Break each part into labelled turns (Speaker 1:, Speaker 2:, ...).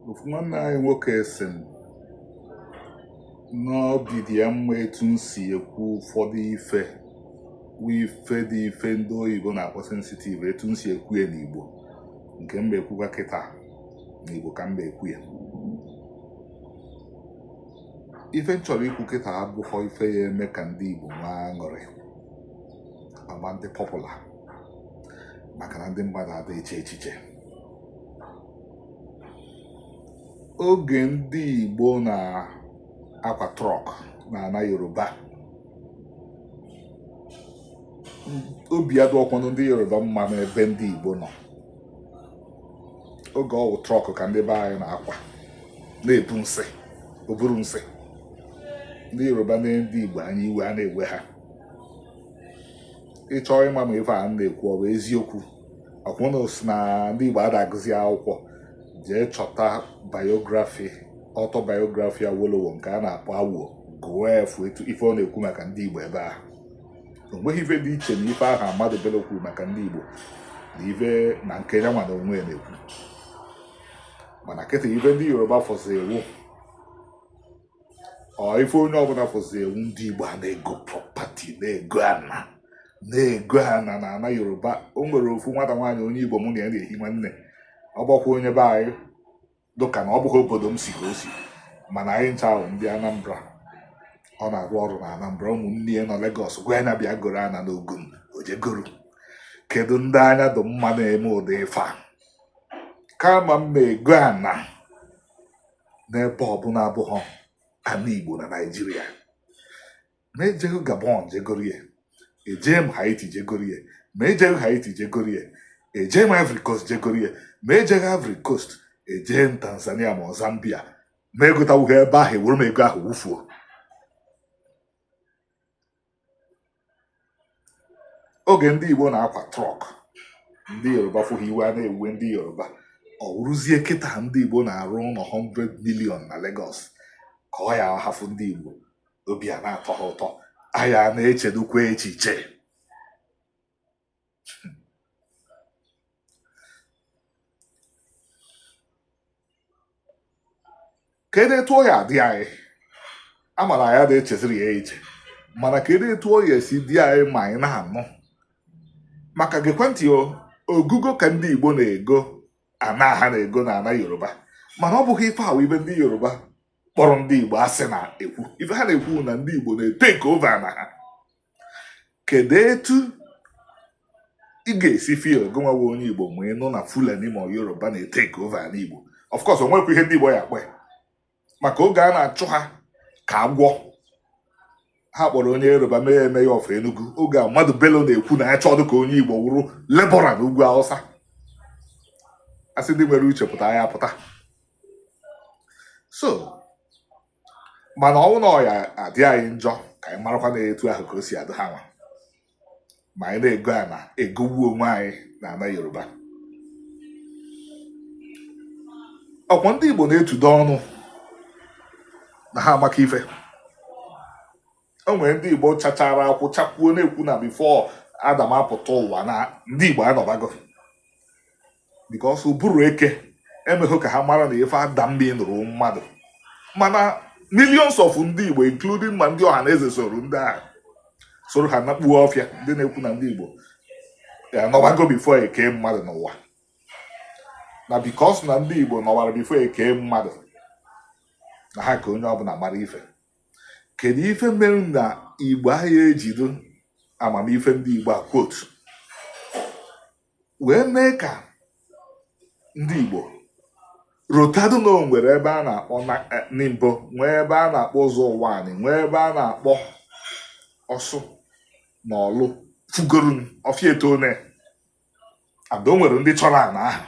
Speaker 1: ofu nwanne anyị nwoke sị m na obi dị ya mma etu m si ekwu ụfọdụ ife bụ ife dị ife ndị oyibo na-akpọ sensitive etu m si ekwu ya n'igbo nke m ma ekwukwa kịta n'igbo ka m ma ekwu ya ife m chọrọ ikwu kịta abụghọ ife ya eme ka ndị igbo nwee aṅụrị ama m adị popular maka na ndị mmadụ ada eche echiche oge ndị Igbo na-akwa truck na ana Yoruba obi adịghọkwanụ ndị Yoruba mma n'ebe ndị Igbo nọ oge ọ wụ truck ka ndị be anyị na-akwa na-ebu nsị oburu nsị ndị Yoruba na ndị Igbo anya iwe a na-ewe ha ị chọọ ịma ma ife a na-ekwu ọ bụ eziokwu ọkwa ụnụ sị na ndị Igbo ada agụzi akwụkwọ jee chọta biography autobiography Awolowo nke a na-akpọ Awo gụọ ị fụ etu ife ọ na-ekwu maka ndị Igbo ebe ahụ o nweghị ife dị iche na ife ahụ Ahmadu Bello kwuru maka ndị Igbo na ife na nke ya nwa na onwe ya na-ekwu mana kịta ife ndị Yoruba fụzie wụ ọ ife onye ọbụna fụzie wụ ndị Igbo a na-ego property na-ego ana na-ego ana na ana Yoruba o nwere ofu nwata nwaanyị onye Igbo mụ na ya na-ehi nwanne ọ bụkwa onye be anyị dụka na ọ bụghị obodo m si ka o si mana anyị ncha wụ ndị Anambra ọ na-arụ ọrụ na Anambra ụmụnne ya nọ Lagos gwa ya na bịa goro ana n'Ogun o jee goro kedu ndị anya dị mma na-eme ụdị ife a kama m ma ego ana n'ebe ọbụna abụghọ ana Igbo na Naịjirịa ma ejegho Gabon jegorie ejee m Haiti jegorie ma ejegho Haiti jegorie ejee m Ivory Coast jegorie ma ejegho Ivory Coast ejee m Tanzania ma Zambia ma egotawughị ebe ahụ ewere m ego ahụ wufuo oge ndị Igbo na-akwa truck ndị Yoruba fụ ha iwe a na-ewuwe ndị Yoruba ọ wụrụzie kịta ndị Igbo na-arụ ụnọ 100 million na Lagos ka ọ ya awụ ha fụ ndị Igbo obi a na-atọ ha ụtọ anyị a na-echedukwa echiche kedu etu ọ ya adị anyị amara ya ada echeziri ya eche mana kedu etu ọ ya esi dị anyị ma anyị na-anụ maka gekwa ntị ogugo ka ndị Igbo na-ego ana ha na-ego na ana Yoruba mana ọ bụghị ife ahụ ife ndị Yoruba kpọrọ ndị Igbo asị na-ekwu ife ha na-ekwu na ndị Igbo na-etake over ana ha kedu etu ị ga-esi feel gịnwa wụ onye igbo ma ị nụ na fulani ma yoruba na-etake over ana igbo of course o nwekwa ihe ndị igbo ya akpa maka oge a na-achụ ha ka agwọ ha kpọrọ onye yoruba mee mayor of enugu oge ahmadu bello na-ekwu na ya achọdụ ka onye igbo wụrụ labourer na ugwu awụsa a sị ndị nwere uche pụta ha ya apụta so mana ọ wụ na ọ ya adị anyị njọ ka anyị marakwa na etu ahụ ka o si adị ha nwa ma anyị na-ego ana egogbu onwe anyị na ana yoruba ọkwa ndị igbo na-etudo ọnụ na ha amaka ife o nwere ndị Igbo chachara akwụ chakwuo na-ekwu na before Adam apụta ụwa na ndị Igbo anọbago because ụbụrụ eke emeghị ka ha mara na ife Adam meanụrụ mmadụ mana millions of ndị Igbo including ma ndị Ọhanaeze soro ndị ahụ soro ha nakpuo ọfịa ndị na-ekwu na ndị Igbo anọbago before e kee mmadụ n'ụwa na because na ndị Igbo nọwara before e kee mmadụ na ha ka onye ọbụla mara ife kedu ife mere na igbo ahụ ejido amamife ndị igbo a quote wee mee ka ndị igbo rotado na o nwere ebe a na-akpọ eh, nimbo nwee ebe a na-akpọ ụzọ ụwanị nwee ebe a na-akpọ ọsụ na ọlụ fugorun ọfịa etone and o nwere ndị chọrọ ana ahụ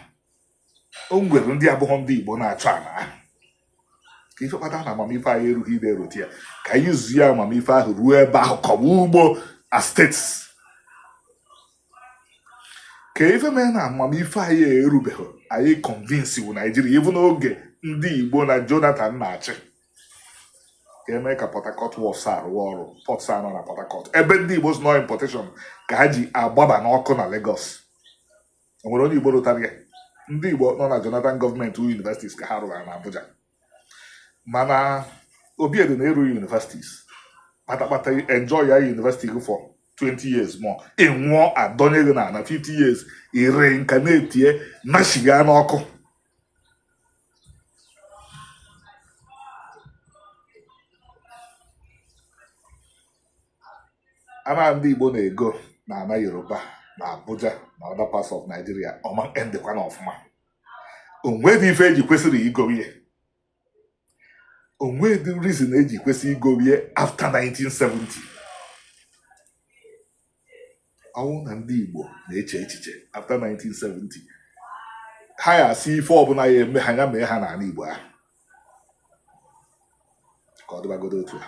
Speaker 1: o nwere ndị abụghọ ndị Igbo na-achọ ana ahụ ka ife kpata na amamife anyị erughị ebe erote ya ka anyị use ya amamife ahụ ruo ebe ahụ kọwa ugbo estate ka ife mee na amamife anyị erubeghị anyị convince wu naijiria even n'oge ndị igbo na jonathan na-achị ka e mee ka Port Harcourt Wharves a rụwa ọrụ ports a nọ na Port Harcourt ebe ndị Igbo nọ importation ka ha ji agbaba n'ọkụ na Lagos o nwere onye Igbo rotara ya ndị Igbo nọ na Jonathan gọọmenti universities ka ha rụrụ na Abuja mana Obiedị na-eru universities kpatakpata enjoy ya university gị for 20 years more ị nwụọ adọnye gị n'ana 50 years ị ree nka na-etie nashiga n'ọkụ ana ndị Igbo na-ego na ana Yoruba na Abuja na other parts of Nigeria ọ ma endkwa na ọfụma o nwedị ife e ji kwesịrị igo ihe o nwedị reason e ji kwesị igorie after 1970 ọ wụ na ndị Igbo na-eche echiche after 1970 ha ya asị ife ọbụna ha ya eme ha ya mee ha n'ana Igbo ahụ ka ọ dịbagodo otu a